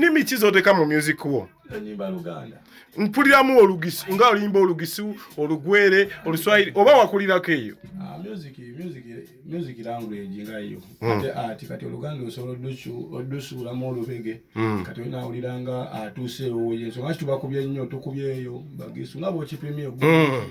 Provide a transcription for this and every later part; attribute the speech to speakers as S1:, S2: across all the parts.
S1: nimi kizoteka mu
S2: music wo
S1: mpuliramu
S2: olugisi nga olimba olugisi olugwere oluswahili oba wakulirako eyo ah,
S1: music language nga yo hmm. ate ati kati oluganda osobola odusuulamu olubege hmm. kati olina awulira nga atuuse ewoye nsonga kituba kubye nnyo tukubyeyo bagisu nga bwokipimye hmm.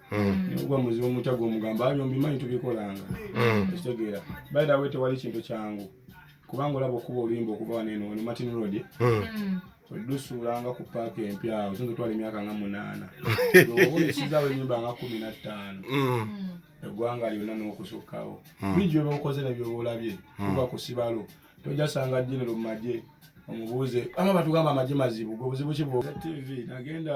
S1: nikuba mm. muzibu omutya gwomugamba abyo mbimanyi tubikolanga mm. ekitegeera by the way tewali kintu kyangu kubanga olaba okuba oluyimba okuba waneno wano martin road mm. olusuulanga ku paaka empya awo singa twala emyaka nga munaana obulisizaawo enyumba nga kumi na ttaano eggwanga lyonna n'okusukkawo buli gyoba okoze nebyoba olabye kuba ku sibalo tojasanga genero mu magye omubuuze ama batugamba amagye mazibu gwe buzibu ki bwo tv nagenda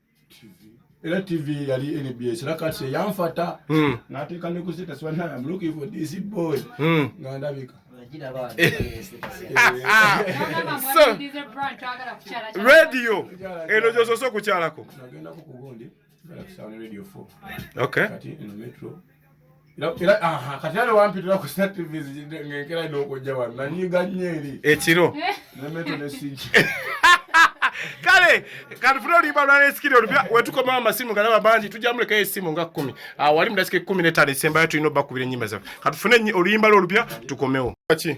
S1: era tv yali nbs era kati eyanfata hmm. nateeka ne ku status one am looking for this boy hmm. nga ndabika
S2: radio eno gyosose okukyalako nagendako kugundi
S1: radio 4 okay. kati eno metro ekiro
S2: kale kanfuna olimba lwalesikire olupya wetukomawo amasimu galaba bangi tujamulekayo esimu nga kumi ah, wali mudasika ekumi netano esembayo tulina obakubira enyimba zaffe katufune oluyimba lwo olupya tukomewo ki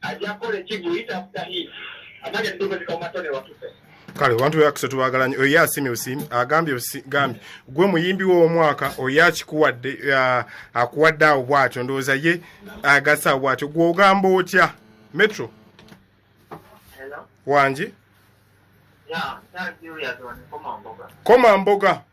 S2: ajja
S3: kukola ekigulu ita after him amanya ndogo zikamatone watupe kale abantu beyakuse
S2: tubagalanye oyo yasimi osimi agambye gambi gwe muyimbi w'omwaka oyo akikuwadde akuwadde awo bwatyo ndowooza ye agasa awo bwatyo gwe ogamba otya metro
S3: wangi koma mboga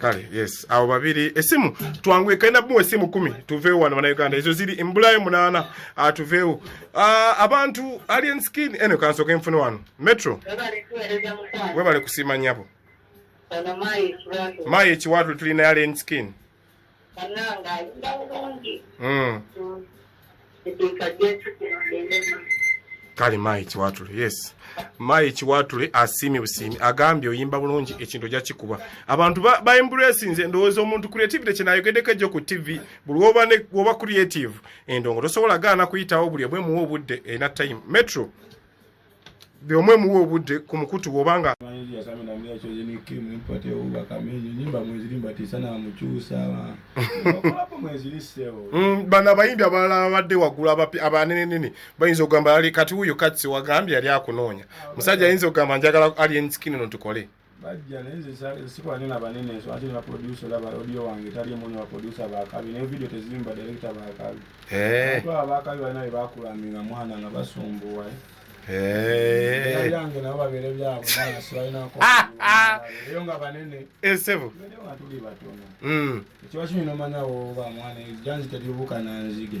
S3: kale yes
S2: awo babiri esimu twanguye kalina bumu esimu kumi tuveewo wano banauganda ezo ziri embulayo munaana ah, tuveewo ah, abantu alien skin eno kansoka enfuna wano metro webale kusiima nyabo mayi ekiwatule tulina alien skin banange ayimba bulungi hmm. eteeka gyetugendemu kale mayi kiwatule yes mayi kiwatule asiimye busiimi agambye oyimba bulungi ekintu ojja kikuba abantu baemburesinze endowooza omuntu creativity kyenayogedeko ejjo ku tv buli woba creative endongo tosobola gaana kuyitawo buli obwemuwa obudde ena time metro buli omu emuwa obudde ku mukutu bwoba nga mm, bano abayimbi abalala babadde waggulu abanenenene bayinza okugamba kati wuyo katsi wagambye yali akunoonya musajja ayinza okugamba njagala alienskini no tukole bajja naye nze
S1: sikola nyo nabanene nsonga kiri na producer olaba audio wange tali muni wa producer bakabi naye video tezimba direkita bakabi eh. aba bakabi balina bye bakulamira mwana nga basumbuwa eh. yange nabo babeere byabo mwana sibalinako ah, ah. eyo nga banene esebo eh, nga
S2: tuli batono
S1: mm. ekiba kino nomanyawo oba mwana ejanzi teribuka nanzige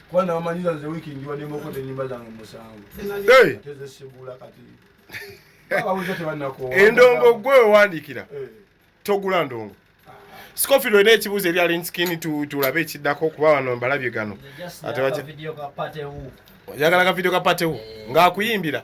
S1: kuba nabamanyiza nze wiiki njiwaddemu okota enyimba zange musanvu tezesigula kati babuza tebanakoowa endongo gwe
S2: owandiikira eh. togula ndongo Scofield olina ekibuuzo eri alinskini tulabe ekiddako kuba wano mbalabye gano oyagala
S4: ka vidiyo ka
S2: patewu ng'akuyimbira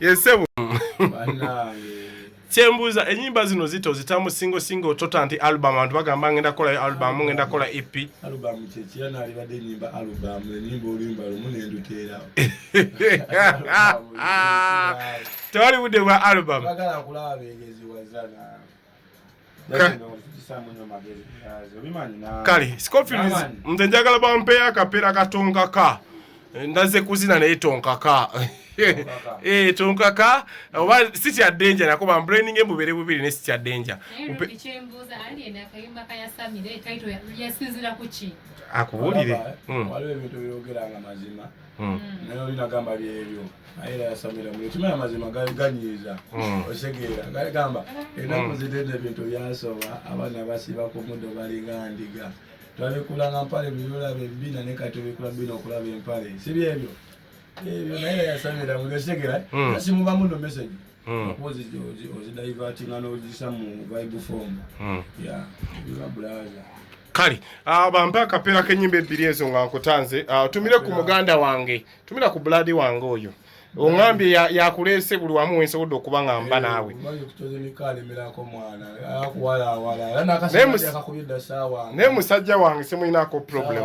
S2: yesebo kyembuuza enyimba zino zito zitamu singo singo tota nti album abantu bagamba ngenda kolayo album ngenda kola ep tewali budde bwa album kale scofields nze njagala bampeyo akapeera katonkaka ndaze kuzina naye tonkaka eh, tonkaka oba sitya denja nako bambraininge mubere bubiri ne sitya denja
S5: akubuulire
S1: hmm. naye oli nagamba byebyo naye era yasamira mu ekima amazima ganyiiza hmm. osegeera gali gamba enaku hmm. zitenda ebintu byasoba abaana basiba ku muddo balinga ndiga twabikulanga mpale biyolaba embina ne kati obikula bina okulaba empale si byebyo ebyo naye era yasamira mu osegeera asimubamu no message Hmm. okuwozi ozidivatinga nozisa mu vibe form hmm. ya bulaza kale
S2: ah, bampe akapeera k'ennyimba ebbiri ezo nga nkutanze ah, tumire ku muganda wange tumira ku buladi wange oyo ongambye yakuleese buli wamu wensobodde okuba nga mba naawe naye musajja wange simulinaako problem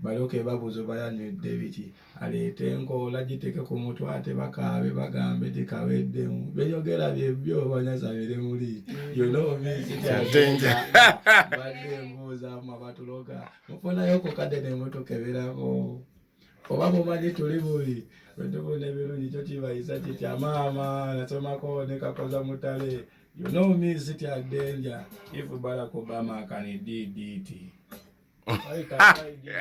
S1: balyoke babuuze oba yanywedde biki aleete enkoola giteke ku mutwe ate bakaabe bagambe nti kaweddemu beyogera byebyo banyaza biri muli yonomisibadde embuuzamu abatuloga mufunayo ku kadde nemutukeberako oba mumanyi tuli bubi bwetufuna ebirungi kyo kibayisa kitya maama nasomako nekakoza mutale yonomisitya denja ifu balakobama kanididiti Ay, tatay, di, di,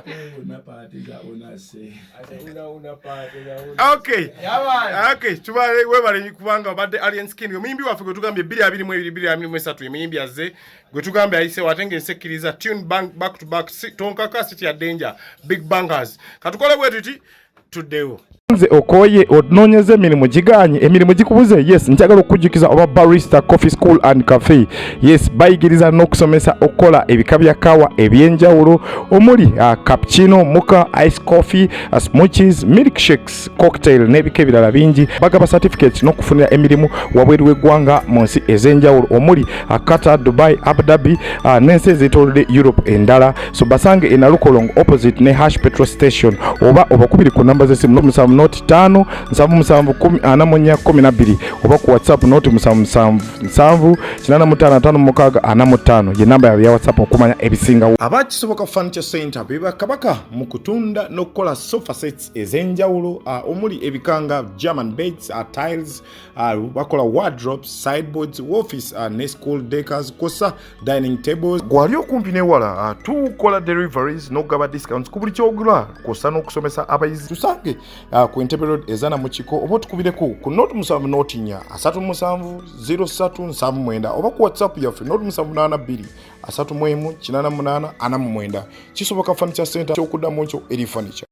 S1: di. Una pati za una se.
S2: Ate una una pate na una. Okay. Yaman. Okay, tubale webale kubanga obadde Alien Skin. Omuyimbi waffe gwe tugambye 22 mu 22 mu 3 emiyimbi azze gwe tugambye ayise watenge ensekkiriza tune bang, back to back si, tonkaka city ya danger big bangers. Katukole bwe tuti tuddewo nze okoye onoonyeza emirimu giganye emirimu gikubuze yes njagala okukujjukiza oba barista coffee school and cafe yes bayigiriza n'okusomesa okukola ebika bya kawa ebyenjawulo omuli uh, cappuccino muka ice coffee uh, smoothies milk shakes cocktail n'ebika ebirala bingi bagaba certificates n'okufunira emirimu wabweru w'eggwanga mu nsi ez'enjawulo omuli uh, qatar dubai abu dhabi uh, n'ensi ezeetoolodde europe endala so basange e nalukolongo opposite ne hash petrol station oba obakubiri ku namba z'essimu noti musanvu noti ttaano nsanvu musanvu kumi ana mu nnya kumi na bbiri oba ku whatsapp noti musanvu musanvu nsanvu kinaana mu ttaano ataano mukaaga ana mu ttaano ye namba yaabwe ya whatsapp okumanya ebisingawo aba kisoboka furniture center be bakabaka mu kutunda n'okukola sofa sets ez'enjawulo omuli ebikanga german beds tiles bakola wardrobes sideboards office ne school decors kosa dining tables gwali okumpi newala ah, tukola deliveries nokugaba discounts ku buli kyogula kwosa n'okusomesa abayizi tusange ah, ku entebe road ezana mu kiko oba otukubireko ku not musanvu notinya asatu musanvu 0379 oba ku whatsapp yaffe not musanvu naana bbiri asatu mu emu kinana munaana ana mu mwenda kisoboka furniture center kyokuddamu nkyo eri furniture